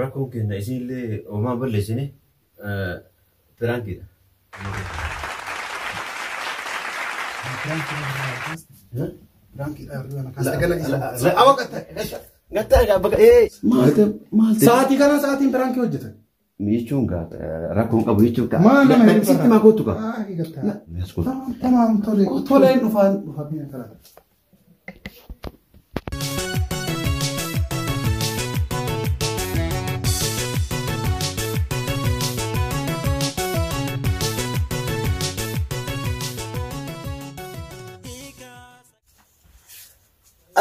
Rakkoon keenna isiinillee homaa hin balleessine piraankiidha. Sa'aatii kana sa'aatiin piraankii hojjetan. Jechuun gaa rakkoon qabu jechuun gaa. Maal nama hin Sitti maa kootu gaa. Tamaam tole toleen dhufaan dhufamee kana.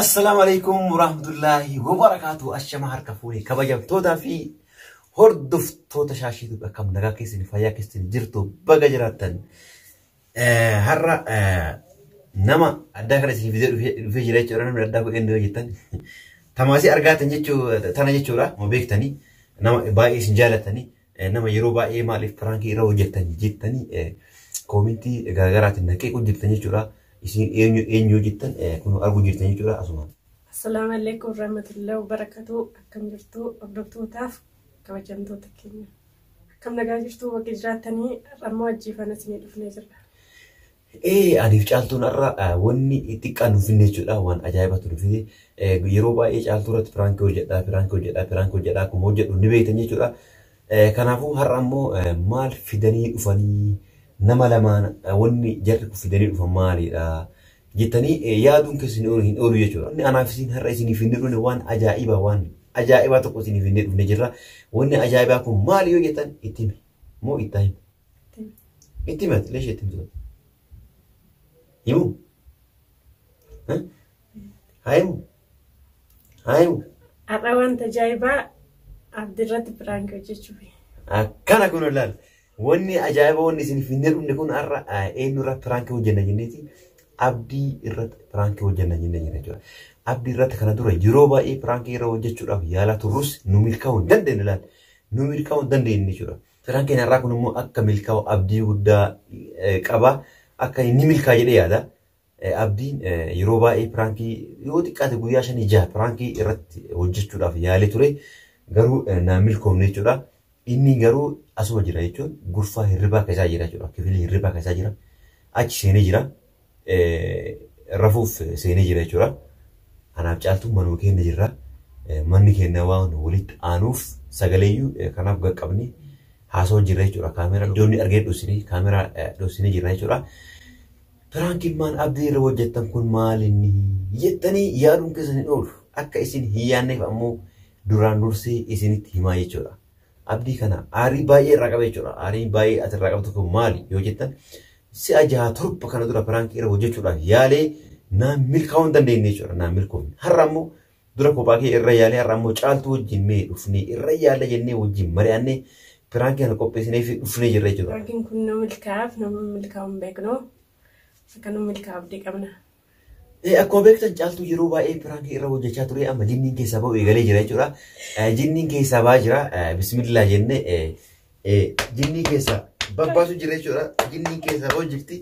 Assalaamu alaikum warahmatullaahi wabarakaatu ashama harka fuune kabajamtootaa fi hordoftoota shaashiitu akkam nagaa keessanii fayyaa keessanii jirtu baga jiraattan Har'a nama addaa kana isin fidee dhufee jira jechuudha. Namni addaa kun eenyu jettan. Tamaasii argaatan jechuu tana jechuudha. Ma beektanii nama baay'ee isin jaalatanii nama yeroo baay'ee maaliif piraankii irra hojjettan jettanii koomintii garaagaraatiin naqee hojjettan jechuudha. Isin eenyu eenyu jettan kun arguu jirtan jechuudha asuma. Assalaamu alaikum warahmatullahi wabarakatuh. Akkam jirtu hordoftootaf kabajamtoota keenya. Akkam nagaa jirtuu bakka jiraattanii har'ammoo ajjiifana isinii dhufnee jirra. Ee aniif caaltuun har'a wanni xiqqaa nuuf finne jechuudha waan ajaa'ibatu nuuf finne yeroo baay'ee caaltuu irratti piraankii hojjedha piraankii hojjedha piraankii hojjedha akkuma hojjedhu ni beektan jechuudha. Kanaafuu har'a ammoo maal fidanii dhufanii nama lamaan wanni jarri kun fidanii dhufan maalidha? jettanii yaaduun keessan hin oolu jechuudha. Wanni anaaf isin har'a isiniif hin dhufne waan ajaa'ibaa waan ajaa'ibaa tokko isiniif hin dhufne jirra. Wanni ajaa'ibaa kun maali yoo jettan itti hime moo itti hime? Itti hime leesha itti himtu. Himu? Haa himu? Haa himu? Har'a wanta ajaa'ibaa abdirratti piraank hojjechuuf. Akkana kun ilaala. Wanni ajaa'iba wanni isin finnee dhumne kun har'a eenyu irratti piraankii hojjenna jenneeti abdii irratti piraankii hojjenna jennee jira jechuudha. Abdii irratti kana dura yeroo baay'ee piraankii irra hojjechuudhaaf yaalaa turrus nu milkaa'uu hin dandeenye laal. Nu milkaa'uu hin dandeenye jechuudha. Piraankiin har'aa kun immoo akka milkaa'u abdii guddaa qaba. Akka inni milkaa jedhee yaada. Abdiin yeroo baay'ee piraankii yoo xiqqaate guyyaa shanii jaha piraankii irratti hojjechuudhaaf yaalee ture garuu naa milkoofne jechuudha. Inni garuu asuma jira jechuun gurfaa hirribaa keessaa jira jechuudha. Kifilii hirribaa keessaa jira. Achi seenee jira. Rafuuf seenee jira jechuudha. Anaaf caaltuu manuma keenya jirra. Manni keenya waan walitti aanuuf sagaleeyyuu kanaaf gaqqabni haasoo jirra jechuudha. Kaameeraa iddoonni argee dhoosine kaameeraa dhoosine jirra jechuudha. Prank ilmaan Abdii irra hojjettan kun maalinni jettanii yaaduun keessan hin oolu. Akka isin hin yaanneef ammoo duraan dursee isinitti himaa jechuudha. Abdii kana aarii baay'ee irraa qaba jechuudha. Aarii baay'ee as irraa qabdu kun maali yoo jettan si'a jaha torba kana dura prank irra hojjechuudhaaf yaalee naan milkaa'uu hin dandeenye jechuudha. Naan milkoofne. Har'a ammoo Dura kophaa kee irra yaalee har'a ammoo caaltuu wajjin mee dhufnee irra yaalla jennee wajjin mari'annee piraankii kana qopheessinee fi dhufnee jirra jechuudha. Piraakiin kun nama milkaa'aaf nama milkaa'u hin beeknu. Akka nu milkaa'u abdii qabna. Eh, Akkuma beektan caaltuu yeroo baay'ee piraankii irra hojjechaa ture amma jinniin keessaa ba'u eegalee jira jechuudha. Eh, Jinniin keessaa ba'aa jira. Eh, Bismillaa jennee eh, eh, jinnii keessaa babbaasu jira jechuudha. Jinniin keessaa ba'u jirti.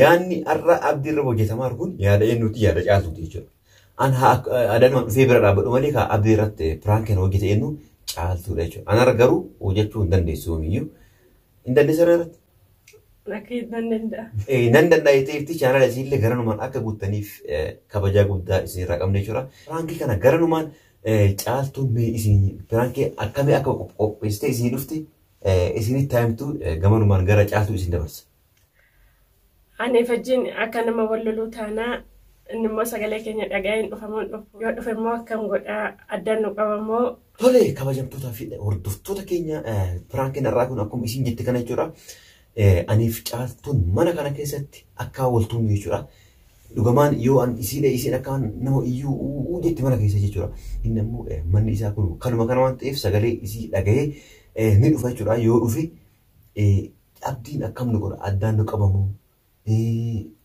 Yaadni har'a abdii irra hojjetamaa jiru kun yaada eenyuuti yaada caaltuuti jechuudha. An adanumaan dhufee bira dhaabbadhu malee kaa abdii irratti piraankiin hojjete eenyu caaltuudha jechuudha. Anarra garuu hojjechuu hin dandeessu yoomiyyuu. Hin dandeessu irratti. Rakkee nan danda'a. Nan danda'a jettee ifti chaanala isiillee garanumaan akka guuttaniif kabajaa guddaa isinirraa qabna jechuudha. Piraankii kana garanumaan caaltuun mee isin piraankii akkamii akka qopheessitee isin dhufte isinitti taa'imtu gamanumaan gara caaltuu isin dabarsa. Ani fajjiin akka nama wal loluu taanaa inni immoo sagalee keenya dhaga'ee hin dhufa moo hin dhufu? Yoo dhufe immoo akkam godha? Addaan nu qaba moo? Tole kabajamtootaa fi hordoftoota keenya piraankiin har'aa kun akkuma isin jette kana jechuudha. Aniif caaltuun mana kana keessatti akka waltuun jechuudha. Dhugamaan yoo an isii dhee isiin akka nama iyyuu uu jetti mana keessa jechuudha. Inni ammoo manni isaa kun kanuma kana waan ta'eef sagalee isii dhaga'ee ni dhufa jechuudha. Yoo dhufe Abdiin akkam nu godha addaan nu qabamoo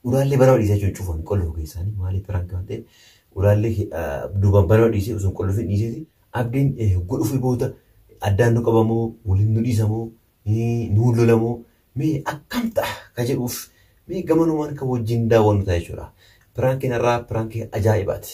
uraallee banama dhiisee jechuun cufa hin qollufu keessaani maaliif piraanki waan ta'eef uraallee duubaan banama dhiisee osoo hin qollufu hin dhiiseeti abdiin hogguu dhufuu booda addaan nu qabamoo waliin nu dhiisamoo nu lolamoo mee akkam ta'a ka jedhuuf mee gamanumaan kan wajjin daawwannu ta'a jechuudha. Piraankiin irraa piraankii ajaa'ibaati.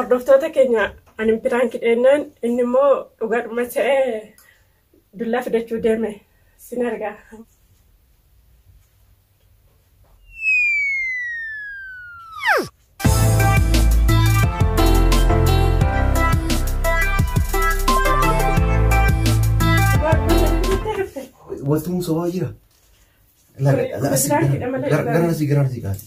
Hordoftoota keenya ani piraanki dheennaan inni immoo dhugaadhuma ta'ee dullaa fidachuu deeme sin argaa. Waltumuu sobaa jira. Laga- laga- Piraankiidha malee Gara dhugaa. gara asii gara asii kaati.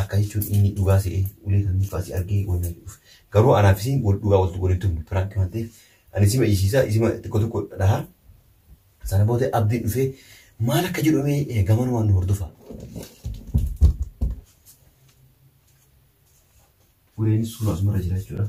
Akka jechuun inni dhugaa se'ee ulee kan mucaa si argee wanna jedhuuf. Garuu anaaf isiin wal dhugaa waltu waliin tumnu piraanki waan ta'eef ani isima iyisiisa isima xiqqoo tokko dhaha. Sana booda abdiin dhufee maal akka jedhu mee gamanumaan nu hordofa. Uleenis suuraa asumarra jira jechuudha.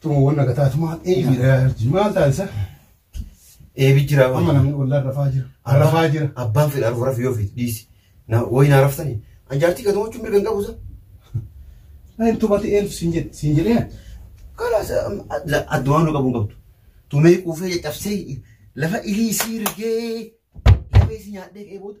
Tuma wanna gataa tuma eebi dha yarji maal taasisa? Eebi jira Amma waan. namni wallaan rafaa jira. Rafaa jira. Abbaan fedha arfu rafu yoo fedhe dhiisi. Na wayi na raftani. An jaartii gatuu jechuun mirga hin qabu sa. Ani tumati eentu siin jedhe siin jedhee Karaa sa addumaan nu qabu hin qabdu. Tumee quufee caccabsee lafa ilii sii rigee lafee si nyaadhee ka'ee booda.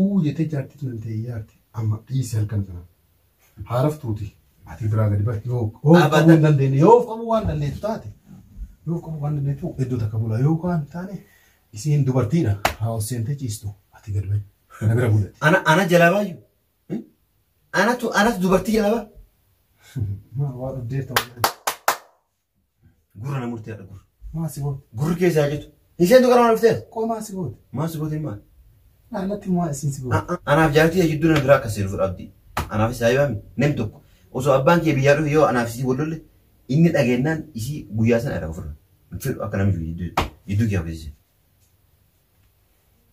Uuu jetee jaartii tun iltee iyaarti amma dhiisi halkan kana haa raftuuti ati biraa gadi bahi yoo yoo of qabuu hin dandeenye yoo of qabuu waan dandeettu taate yoo of qabuu waan dandeettu iddoo takka bulaa yoo waan hin taane isiin dubartiidha haa ol seentee ciistu ati gadi bahi na bira bulati. Ana ana jalaa baayyu. Anatu anas dubartii jalaa baa. Maa waa dhuddeerta waan. Gurra na murtee haadha gurra. Maa si goote? Gurri keessa haa jettu. Isheen tu qarama dhufteef. Qoo maa si goote? Maa si goote maal? Dhaallatti maa isin si goote? Anaaf jaartii yaa jidduu nama biraa akka seenu fudhaa abdii. Anaaf isaa yoo hami nam tokko. Osoo abbaan kee biyyaa dhufe yoo anaaf isii wal lolle inni dhageennaan isii guyyaa sana irraa ofirra. Hin fedhu akka namni jidduu jidduu kee hafeessise.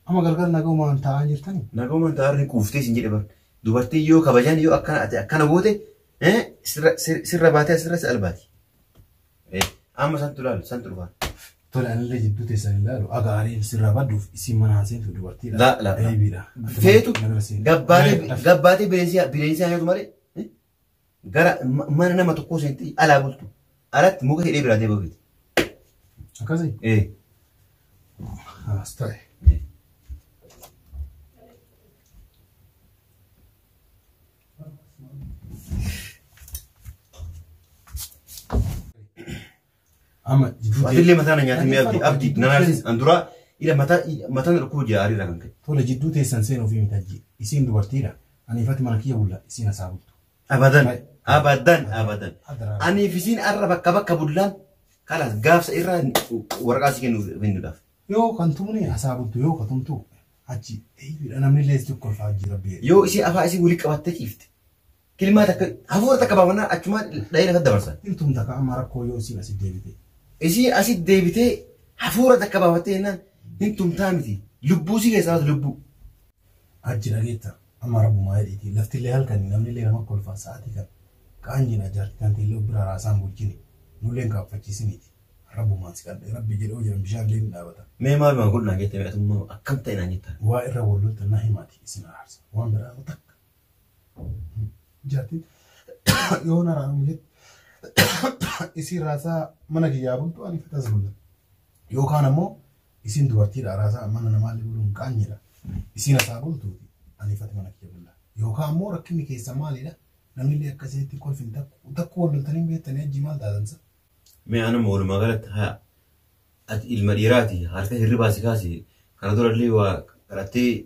Amma galgala nagaumaan taa'aa jirtanii? Nagaumaan taa'aa jirtanii quuftee isin jedhe bar. Dubartiin yoo kabajan yoo akkana ati akkana goote sirra baatee asirra si albaati. Amma santu ilaalu santu dhufaa. Tole anillee jidduu teessan ilaalu agaariin sirraa badduuf isin mana haaseentu dubartiidha. La la. Deebiidha. Feetu gabbaatee bineensi bineensi haayatu malee gara ma- mana nama tokkoo seentee alaa bultu alatti muka hidhee biraa deebi'u feeti. Akkasii? Ee. Haas ta'e. Ee. Amma jidduu Ati illee mataa na nyaatee mee abdi abdi na naarsis an duraa ila mataa mataa na dhukkuu jaarii irraa kan ka'e. Tole jidduu teessan seen ofii mitajji. Isiin dubartiidha. Ani ifatti mana kiyya bulla isiin hasaa bultu. Abadan abadan abadan. Aniif isiin arra bakka bakka bullaan kalaas gaafsa irraa waraqaa si kennuuf kennuudhaaf. Yoo kan tumne hasaa bultu yoo ka tumtu achi eeyyudha namni illee si kolfaa hojii rabbi. Yoo isii afaa isii wali qabattee ciifte. Kilmaa takka hafuura takka baafannaa achumaan dhahee lafa dabarsan. Hin tumta ka amma rakkoo yoo isiin asit deebite. Isii asit deebitee hafuura takka baafattee jennaan hin tumtaa miti. Lubbuu si keessaa baatu lubbuu. Hajji dhageetta amma rabbumaa jedhiitii laftillee halkanii namnillee nama kolfaa sa'aatii kan kaan jina jaartii tanteellee ubbira raasaan bulchini nulleen kaaffachiisiniiti rabbumaan si kadhe rabbi jedhoo jiran bishaanillee ni dhaabata. Mee maal waan godhu naan jette mee atummaa akkam ta'e naan jetta. Waa irra wal loltan na himaati isin araarsa waan biraa takka jartiin yoo na raanu jetti isiin raasaa mana kiyyaa bultu ani fatas bulla yookaan ammoo isiin dubartiidha raasaa mana namaallee buluun qaanyidha isiin asaa bultuuti ani fati mana kiyya bulla yookaan ammoo rakkinni keessa maalidha namillee akka isinitti kolfin takku takku wal loltanii beektanii ajji maal taatansa Mee anuma walumaa galatti haa Ati ilma dhiiraati halkan hirribaa si kaase kana durallee waa kadhattee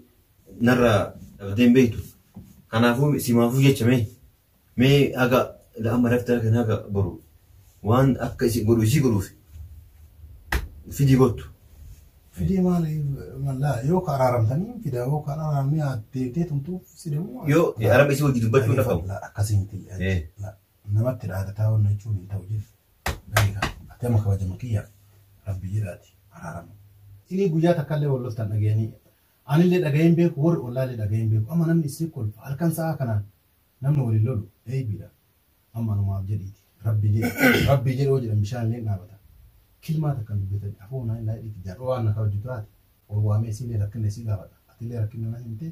narraa dhabdee hin beektu. Kanaafuu simaafuu jecha mee mee haga amma rafte halkan haga boru waan akka isin godhu isii godhuuf fidii kottu. Fidee maal mallaa yoo ka araaramtanii fidaa yoo ka araaramne haa deebitee tumtuuf si deemu. Yoo araba isii wajji dubbachuu hin dhafamu. Akkasii miti. Eh. namatti dhaadataa wanna jechuun hin ta'u jis beeka ati amma kabajama kiyyaaf rabbi jedhaati araaramu. Isinii guyyaa takkallee wal loltan dhagayanii anillee dhagayeen beeku warri ollaallee dhagayeen beeku amma namni isin kolfa halkan sa'aa kanaan namni waliin lolu eeybiidha amma anumaaf jedhiiti rabbi jedhi rabbi jedhoo jedhan bishaanillee dhaabata kilmaa takkan dubbatanii afoo naa hin laayidhiiti jaadhoo waan na kabajju taate ol waamee isiillee rakkinna isii gaafadha atillee rakkinna na himtee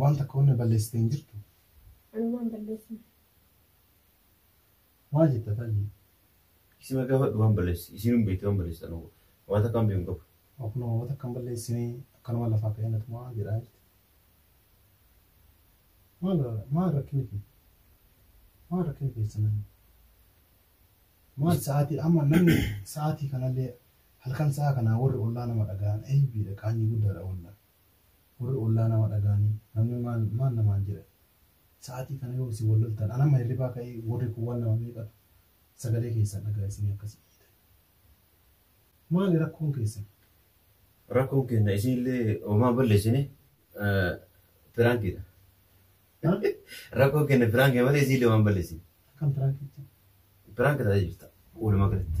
Waan takka wanna balleessite hin jirtu? Ani waan balleessine. Maal jetta taajii? Isima gaafadhu waan balleessi. Isiin hin beekti waan balleessi anuu. Waan takka hin beeku qabu. Akkuma waan takka hin balleessine akkanuma lafaa ka'ee na tumaa jedhaa jirti. Maal maal rakkinni kee? Maal rakkinni keessa namni? Maal sa'aatii amma namni sa'aatii kanallee halkan sa'a kanaa warri ollaa nama dhagahan eeybiidha qaanyii guddaadha ollaa. Warri ollaa nama dhaga'anii namni maal maal namaan jedha sa'aatii kana yoo isin wal loltan an amma hirribaa ka'ee warri kun waan nama meeqatu sagalee keessan dhaga'a isinii akkasii iyyitan. Maali rakkoon keessan? Rakkoon keenya isiillee homaa balleessine piraankiidha. Rakkoon keenya piraankii malee isiillee homaa balleessine. Akkam piraankiitti? Piraanki ta'ee jirta walumaa galatti.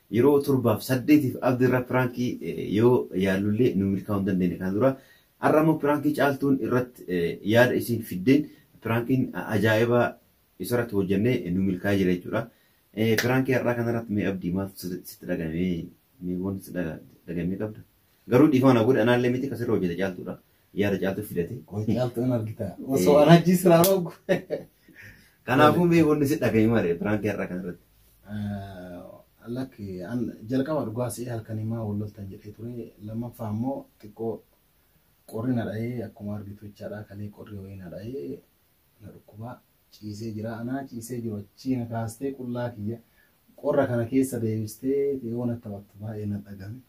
Yeroo torbaaf saddeetiif Abdi irra piraankii yoo yaallullee nu milkaa'uu hin dandeenye kana dura. Har'a immoo piraankii caaltuun irratti yaada isiin fiddeen piraankiin ajaa'ibaa isarratti hojjannee nu milkaa'ee jira jechuudha. Piraankii har'aa kanarratti mee Abdi maaltu sitti dhagahame? Mee wanti sitti dhagahame qabda? Garuu dhiifama na godhi anaallee miti ka sirra hojjete caaltuudha. Yaada caaltuu fidate. Qoy caaltuu hin argita. Osoo an hajjii siraa rogu. Kanaafuu mee wanni si dhaga'e malee biraankii har'a kan irratti. Lakki an jalqaba dhugaa si'ee halkanii maa wal loltan jedhee ture. Lammaffaa immoo xiqqoo qorri na dha'ee akkuma argitu jechaadha kalee qorri wayii na dha'ee na dhukkubaa ciisee jira anaa ciisee jiru achii na kaastee qullaa kiyya qorra kana keessa deebistee yoo na taphattu baay'ee na dhagame.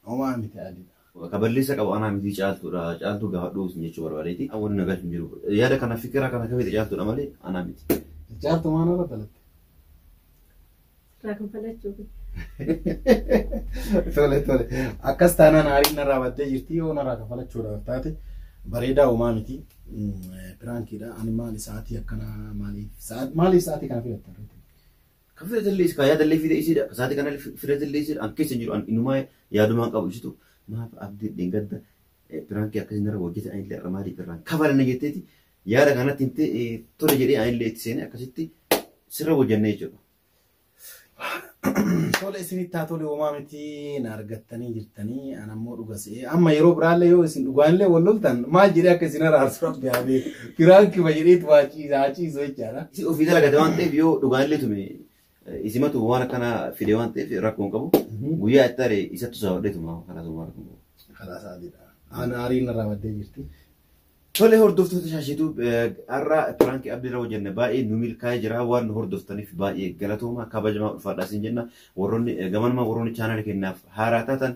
Homaa miti adii. Ka balleessa qabu anaa miti caaltuudha. Caaltuu gaafadhuu isin jechuu barbaadeeti. Wanni nagaa hin jiru. Yaada kana fikira kana kafite caaltuudha malee anaa miti. Caaltuu maal irra dalatte? Irraa kan falachuuf. Tole tole. Akkas taanaan aariin narraa baddee jirti yoo narraa kan falachuudhaaf taate bareedaa homaa miti. Piraankiidha. Ani maali sa'aatii akkanaa maaliif? Maaliif sa'aatii kana filatte? Ka fira tallee ka yaadallee fide isiidha. Ka saati kana fira tallee isiidha. An keessa hin jiru an inumaa yaadumaan qabu isitu maaf abdii dhengadda piraankii akkasii narra hojjete anillee irra maaliif irraan kafala na jetteeti yaada kanatti himte tole jedhee anillee itti seenee akkasitti sirra hojjannee jechuudha. Tole isinitti haa tole homaa miti na argattanii jirtanii an ammoo dhuga se'ee amma yeroo biraallee yoo isin dhugaanillee wal loltan maal jedhee akka isin araarsu rabbi haa beeku. Piraan kiba jedheet waa ciisa haa ciisu jechaadha. Si ofii dalagate waan ta'eef yoo dhugaan illee tume isimatu waan akkanaa fide waan ta'eef rakkoo hin qabu. Guyyaa itti aare isattu saawwadhee tuma karaa sun waan rakkoo hin qabu. Karaa saadiidha. Aan aariin irraa baddee jirti. Tole hordoftoota shaashiitu har'a piraankii abdii irra hojjenne baay'ee nu milkaa'ee jira waan nu hordoftaniif baay'ee galatooma kabajamaa ulfaadhaa isin jenna warroonni gamanuma warroonni chaanaalii kennaaf haaraa taatan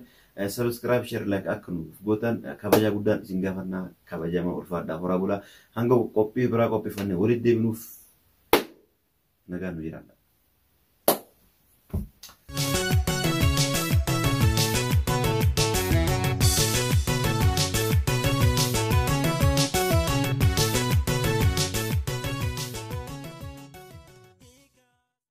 Subscribe, share, like akka nuuf gootan kabajaa guddaan isin gaafanna kabajamaa ulfaadhaa horaa bulaa hanga qophii biraa qopheeffannee walitti deebinuuf nagaan nu jiraadha.